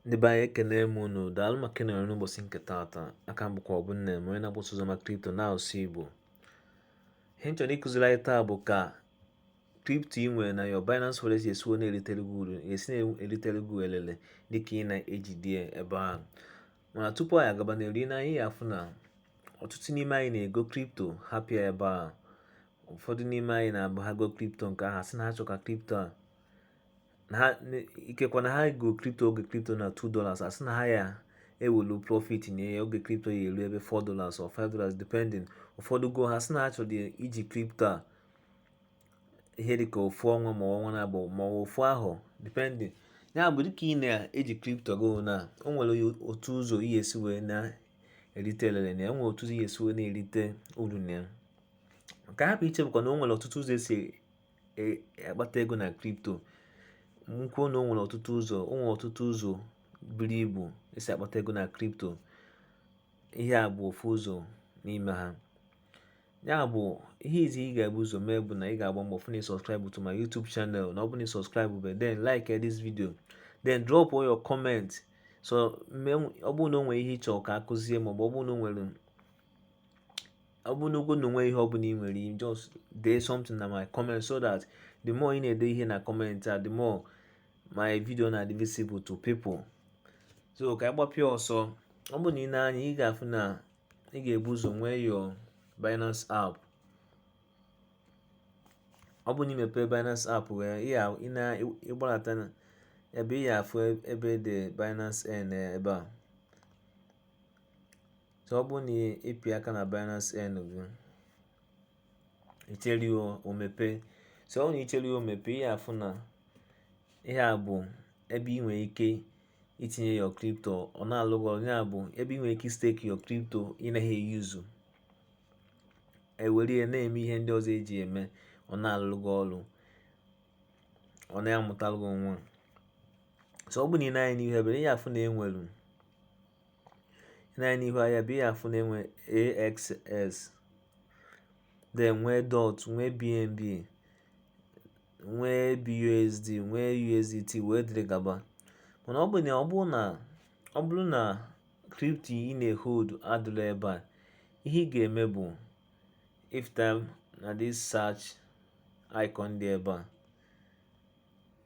ndị be anyị ekene m unu daalụ maka ịnọrọ n'ụbọchị nke taata aha m bụkwa ọbụ nne m onye na-agbasa ozi maka kripto n'asụsụ igbo ihe m chọrọ ịkụziri anyị taa bụ ka kripto ị nwere na your Binance Wallet si esi wee na-eritere gị uru esi na-eritere gị elele dịka ị na-ejide ebe ahụ mana tupu anyị agaba n'iru na anyị afụ na ọtụtụ n'ime anyị na-ego kripto hapụ ya ebe a ụfọdụ n'ime anyị na-abụ ha go kripto nke a ha sị na ha chọ ka kripto a na ha na- ikekwa na ha go kripto oge kripto na 2 dollars ha sị na ha ya-ewelu profit na ya oge kripto ya-elu ebe 4 dollars or 5 dollars depending ụfọdụ go ha sị na ha chọrọ iji kripto a ihe dịka ofu ọnwa ma ọnwa naabụọ ma ofu afọ depending ya bụ dịka ị na-eji kripto gị na o nwere otu ụzọ ị ya-esi wee na-erite elele na ya nwere otu ụzọ ị ya-esi wee na-erite uru na ya nke hapụ ichefukwa na o nwere ọtụtụ ụzọ esi e, akpata ego na kripto m kwuo na o nwere ọtụtụ ụzọ o nwere ọtụtụ ụzọ buru ibu esi akpata ego na kripto ihe a bụ ofu ụzọ n'ime ha ya bụ ihe izi ị ga-ebu ụzọ mee bụ na ị ga-agba mbọ fụ na ị subscribe to my YouTube channel na ọ bụ na ị subscribe bụ then like this video then drop all your comment so ọ bụrụ na o nwere ihe ị chọ ka akụzie maọbụ ọ bụrụ na o nwere ọ bụrụgodu na o nwe ihe ọ bụla ị nwere ike just dee something na my comment so that the more ị na-ede ihe na comment a the more my video na-adị visible to people so ka ị gbapịa ọsọ ọ bụrụ na i nee anya ị ga-afụ na ị ga-ebu ụzọ nwee your Binance app ọ bụrụ na ị mepee Binance app wee ị na-agbadata ebe ị ya-afụ ebe dị Binance Earn ebe a So ọ bụrụ na ị pịa aka na Binance Earn gị i chere o mepe so ọ na i chere o mepe ị ya-afụ na ihe a bụ ebe ị nwere ike itinye your crypto ọ na-alụ gị ọrụ ya bụ ebe ị nwere ike stake your crypto ị naghị e-use e were ya na-eme ihe ndị ọzọ eji eme ọ na-alụ gị ọrụ ọ na-amụtalụ gị nwa so ọ bụ na i nee anya n'ihu ebe a ị ya-afụ na e nwere na n'ihu ahịa ebe ị ya-afụ na e nwe AXS then nwee DOT nwee BNB nwee BUSD nwee USDT wee dịrị gaba mana ọ bụ na ọ bụrụ na ọ bụrụ na kripto ị na-ehold adịrọ ebe a ihe ị ga-eme bụ ịfụta na this search icon dị ebe a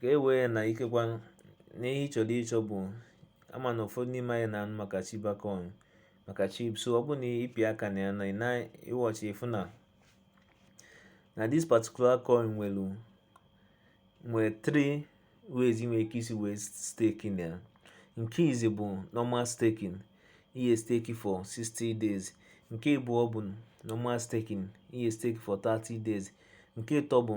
ka e wee na ikekwa na ihe ị chọrọ ịchọ bụ ama na ụfọdụ n'ime anyị na-anụ maka Shiba coin maka SHIB so ọ bụ na ị pị aka na ya na na ị watch ị fụ na na this particular coin nwere nwere three ways i nwere ike isi wee stake na ya nke izi bụ normal staking ị ya stake for 60 days nke abụọ bụ normal staking ị ya stake for 30 days nke ịtọ bụ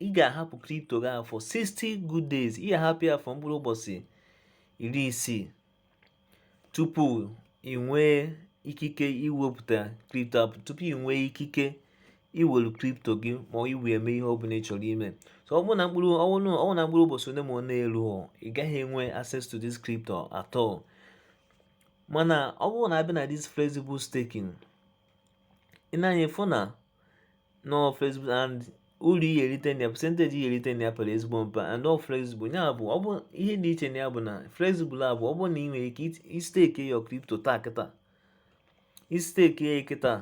ị ga-ahapụ kripto gị for 60 good days ị ga-ahapụ ya for mkpụrụ ụbọchị iri isii tupu ị nwee ikike iwepụta kripto ahụ tupu ị nwee ikike iwelu kripto gị ma i wee mee ihe ọbụla ị chọrọ ime so ọ bụrụ na mkpụrụ ọ bụ na mkpụrụ ụbọchị ole ma ole eru ị gaghị enwe access to this crypto at all mana ọ bụrụ na a bịa na this flexible staking ị ne anya ị fụ na nọ flexible and uru ị ga-erite na ya percentage ị ga-erite na ya pere ezigbo mpe and ọ flexible ya bụ ọ bụ ihe dị iche na ya bụ na flexible a bụ ọ bụ na ị nwere ike istake your crypto taa kịta ị stake ya kịta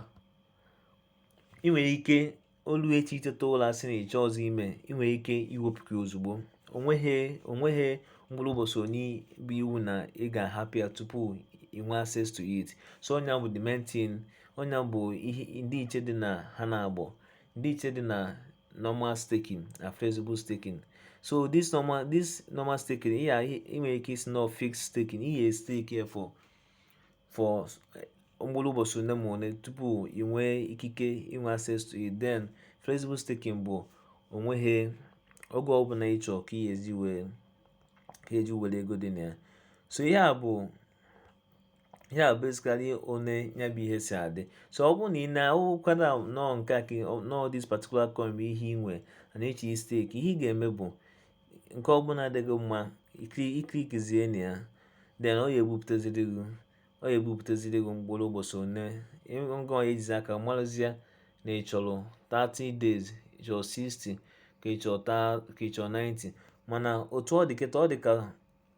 ị nwere ike o lu echi i teta ụla sị na ị chọọzị ime ị nwere ike iwepụta ozugbo o nweghị o nweghị mkpụrụ ụbọchị one bụ iwu na ị ga-ahapụ ya tupu i nwee access to it so ọ nya bụ the main thing ọ nya bụ ihe ndịiche dị na ha naabọ ndịiche dị na normal staking na flexible staking so this normal this normal staking ihe a i nwere ike ịsị na fixed staking ị ya stake ya for for eh, mkpụrụ ụbọchị ole ma ole tupu ị nwee ikike inwe access to it then flexible staking bụ o nweghị oge ọbụla ị chọọ ka ị ya-eji wee ka eji were ego dị na ya so ihe a bụ ihe a basically one ya bụ ihe si adị so ọ bụrụ na ị na-ahụkwara nọọ nke a ka nọọ this particular coin bụ ihe ị nwere na-achọ istake ihe ị ga-eme bụ nke ọbụla dị gị mma ị clickizie na ya then ọ ya ebupụtaziri gị ọ ya ebupụtaziri gị mkpụrụ ụbọchị one ngị ya-ejizi aka marụzie na ị chọrọ 30 days ị chọrọ 60 ka ị chọrọ 90 mana otu ọ dị kịta ọ dị ka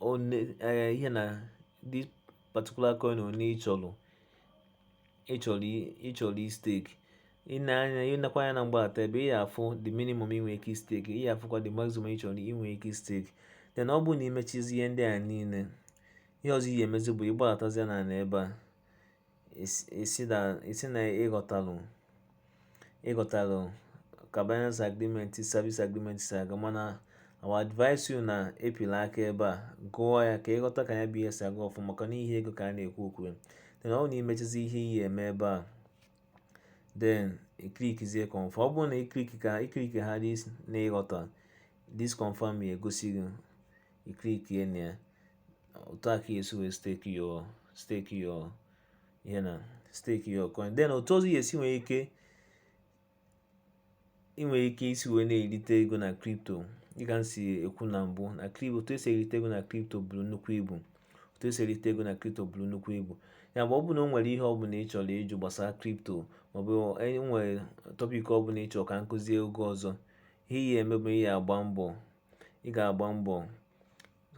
one eh, ihe na this particular coin one ị chọrọ ị chọrọ ị chọrọ istake ị ne anya ị nekwa anya na mgbadata ebe ị ya-afụ the minimum i nwe ike istake ị ya-afụkwa the maximum ị chọrọ i nwe ike istake then ọ bụrụ na i mechazie ihe ndị a niile ihe ọzọ ị ya-emezi bụ ịgbadatazie na ebe a isi na ịghọtalụ ịghọtalụ ka Binance agreement service agreement si aga mana I will advise you na epila aka ebe a gụọ ya ka ịghọta ka ya bụ ihe si aga ọfụma maka na ihe ego ka a na-ekwu okwu ya then ọ bụ na imechizi ihe ị ya-eme ebe a then iklikizie confirm ọ bụrụ na iklik ka iklik ha na ịghọta this confirm ya egosi gị iklik ya na ya otu a ka esi wee stake your stake your ihe na stake your coin then otu ọzọ ị ya-esi nwee ike i nwere ike isi wee na-erite ego na kripto dịka m si ekwu na mbụ na kripto otu esi erite ego na kripto buru nnukwu ibu otu esi erite ego na kripto buru nnukwu ibu ya bụ ọ bụ na o nwere ihe ọbụla ị chọrọ ịjụ gbasara kripto maọbụ enwere tọpik ọbụla ị chọrọ ka m kụzie oge ọzọ ihe ị ya-eme bụ ị ya-agba mbọ ị ga-agba mbọ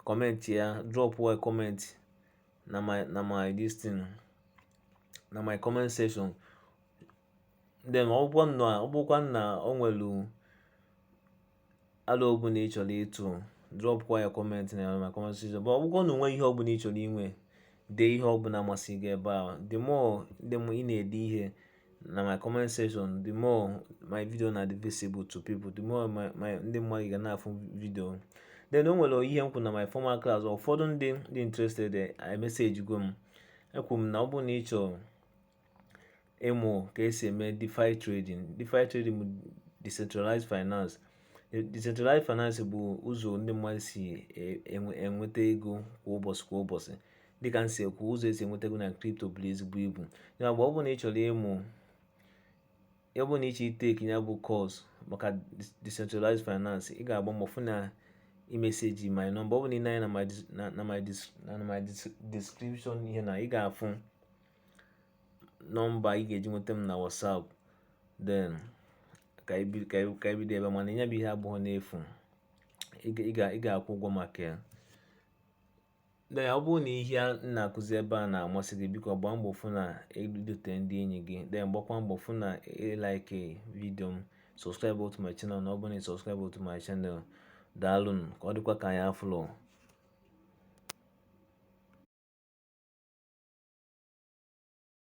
comment ya drop a comment na my na my this thing na my comment section then ọ bụkwa na ọ bụkwa na o nwere alo ọbụla ị chọrọ ịtụ drop kwa ya comment na my comment section but ọ bụkwa na o nwe ihe ọbụla ị chọrọ inwe dee ihe ọbụla masị gị ebe a the more the more ị na-ede ihe na my comment section the more my video na-adị visible to people the more my my ndị mmadụ ga na-afụ video then o nwere ihe m kwuru na my former class ụfọdụ ndị dị interested emessage go m ekwu m na ọ bụrụ na ị chọrọ ịmụ ka esi eme DeFi trading DeFi trading bụ decentralized finance decentralized finance bụ ụzọ ndị mmadụ si e, enweta ego kwa ụbọchị kwa ụbọchị dịka m si ekwu ụzọ esi enweta ego na kripto buru ezigbo ibu ya bụ ọ bụrụ na ị chọrọ ịmụ ya ọ bụrụ na ị chọọ iteki ya bụ kọs maka decentralized finance ị ga-agba mbọ fụ na imeseji my nọmba ọ bụ na i nee anya na my description ihe na ị ga-afụ nọmba ị ga-eji nweta m na WhatsApp then ka ebido ebe mana ya bụ ihe abụrọ n'efu ị ga-akwụ ụgwọ maka ya Then ọ bụrụ na ihe a na-akụzi ebe a na-amasị gị biko gbaa mbọ fụ na i dute ndị enyi gị then gbakwa mbọ fụ na ịlaike vidio m subscribe to my channel na ọ bụrụ na ị subscribe to my channel daalụnụ ka ọ dịkwa ka anyị afụlụ